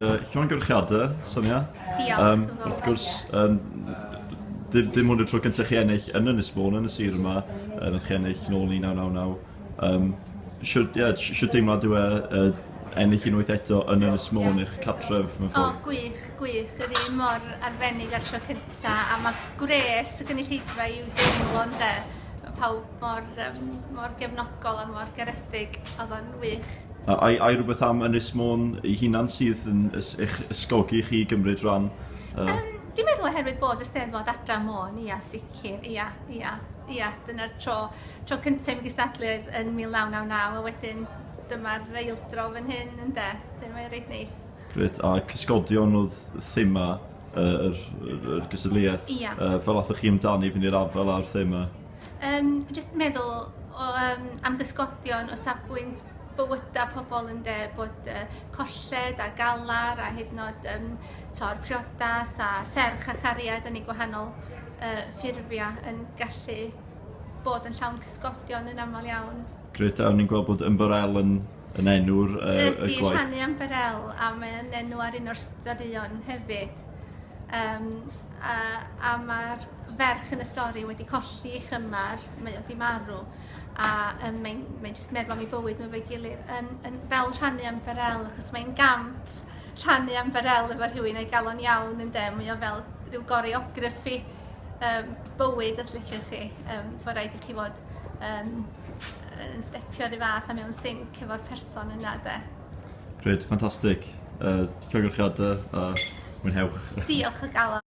Uh, llongyfarchiadau, Sonia. Diolch. Um, wrth gwrs, um, dim, dim ond y tro cyntaf chi ennill yn Ynys Môn, yn y sir yma, yn ydych chi ennill nôl 1999. Um, Siwr yeah, deimlad yw e uh, ennill unwaith eto yn Ynys Môn eich catref mewn ffordd? O, gwych, gwych. Yr un mor arbennig ar sio cyntaf, a mae gwres y gynulleidfa i'w deimlo yn de. Mae pawb Mor yym mor gefnogol a mor garedig, odd o'n wych. A ai ai rhywbeth am Ynys Môn ei hunan sydd yn eich ysgogi chi i gymryd rhan? Yym dwi'n meddwl oherwydd bod y Steddfod Adra Môn, ia, sicr, ia, ia, ia, dyna'r tro tro cynta i mi gystadlu oedd yn 1999 a wedyn dyma'r eildro fan hyn ynde, wedyn mae'n reit neis. Grêt, a cysgodion oedd thema yr gystadleuaeth? Ia. Fel athoch chi amdani fynd i'r afael â'r thema? Yym, jyst meddwl o, um, am gysgodion o safbwynt bywydau pobl yn de, bod uh, colled a galar a hyd yn oed um, tor priodas a serch a chariad yn ei gwahanol uh, ffurfiau yn gallu bod yn llawn cysgodion yn aml iawn. Greta, o'n i'n gweld bod Umber L yn yn enw'r uh, y gwaith? Ydy, rhannu am Berel, a mae'n enw ar un o'r storïon hefyd. Um, a, a mae'r ferch yn y stori wedi colli ei chymar, mae wedi marw, a um, mae'n mae jyst meddwl am ei bywyd nhw fe gilydd, yn, yn, fel rhannu am Berel, achos mae'n gamp rhannu am Berel efo rhywun ei galon iawn yn dem, mae o fel rhyw goreograffi um, bywyd, os liciwch chi, um, fod rhaid i chi fod um, yn stepio ry fath a mewn sync efo'r person yna 'de. Grêt, ffantastig. Yy llongyfarchiadau a mwynhewch. Diolch o galon.